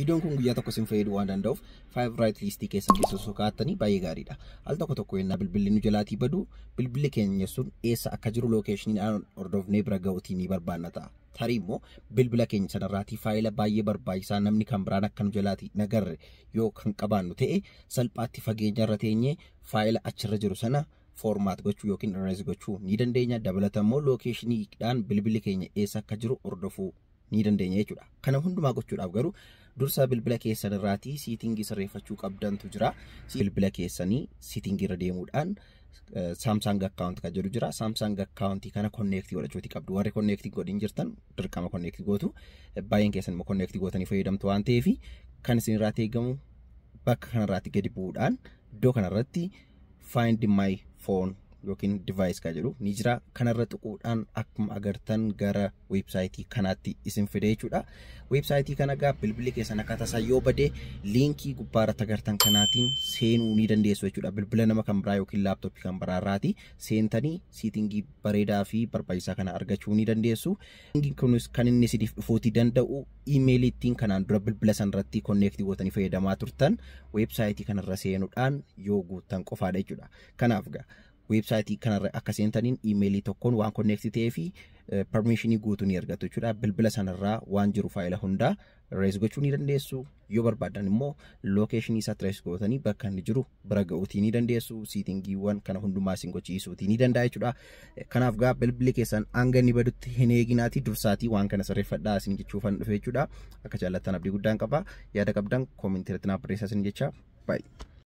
Viidiyoon kun guyyaa tokko isin fayyaduu waan danda'uuf faayivraayit liistii keessan keessa osoo kaa'attanii baay'ee gaariidha. Al tokko tokko yennaa bilbilli nu jalaatii badu bilbilli keenya sun eessa akka jiru lookeeshinii aan hordofnee bira ga'uutii ni barbaanna ta'a. Tarii immoo bilbila keenya sanarraatii faayila baay'ee barbaachisaa namni kan biraan akka nu jalaatii nagarre yoo kan qabaannu ta'e salphaatti fageenya irra teenyee faayila achirra jiru sana foormaat gochuu yookiin irrees gochuu ni dandeenya. Dabalataan immoo lookeeshiniidhaan bilbilli keenya eessa akka jiru hordofuu ni dandeenya jechuudha. Kana hundumaa gochuudhaaf garuu dursa bilbila keessan irraatii siitingii sirreeffachuu qabdantu jira. Bilbila keessanii siitingii irra deemuudhaan Samsung account kan jedhu jira. Samsung account kana konneektii godhachuuti qabdu. Warri konneektii godhin jirtan dirqama konneektii gootu. Baay'een keessan immoo konneektii gootanii fayyadamtu waan ta'eef kan isin irraatti eegamu bakka kanarraatti gadi bu'uudhaan iddoo kanarratti find my phone yookiin device kan jedhu ni jira. Kanarra tuquudhaan akkuma agartan gara weebsaayitii kanaatti isin fide jechuudha. Weebsaayitii kana egaa bilbilli keessan akka tasaa yoo bade liinkii gubbaarratti agartan kanaatiin seenuu ni dandeessu jechuudha. Bilbila nama kan biraa yookiin laaptooppii kan biraa irraati seentanii siitingii bareedaa fi barbaachisaa kana argachuu ni dandeessu. Linkiin kunis kan inni isiniif dhufuutii danda'u iimeelii ittiin kanaan dura bilbila san irratti konneektii gootanii fayyadamaa turtan weebsaayitii kanarra seenuudhaan yoo guuttan qofaadha jechuudha. Kanaaf gaa weebsaayitii kanarra akka seentaniin iimeelii tokkoon waan konneektii ta'ee fi permiishinii guutuu ni argattu jechuudha. Bilbila sanarraa waan jiru faayila hundaa rees gochuu ni dandeessu. Yoo barbaaddan immoo lookeeshinii isaa tirees gootanii bakka inni jiru bira ga'uutii ni dandeessu. Siitingiiwwan kana hundumaa isin gochiisuutii ni danda'a jechuudha. Kanaaf gaa bilbilli keessan hanga inni badutti hin eeginaatii dursaatii waan kana sirreeffadhaa isin jechuufan dhufe jechuudha. Akka jaallattan abdii guddaan qaba. Yaada qabdan koomintii irratti naaf barreessaa isin jecha. Baay'ee.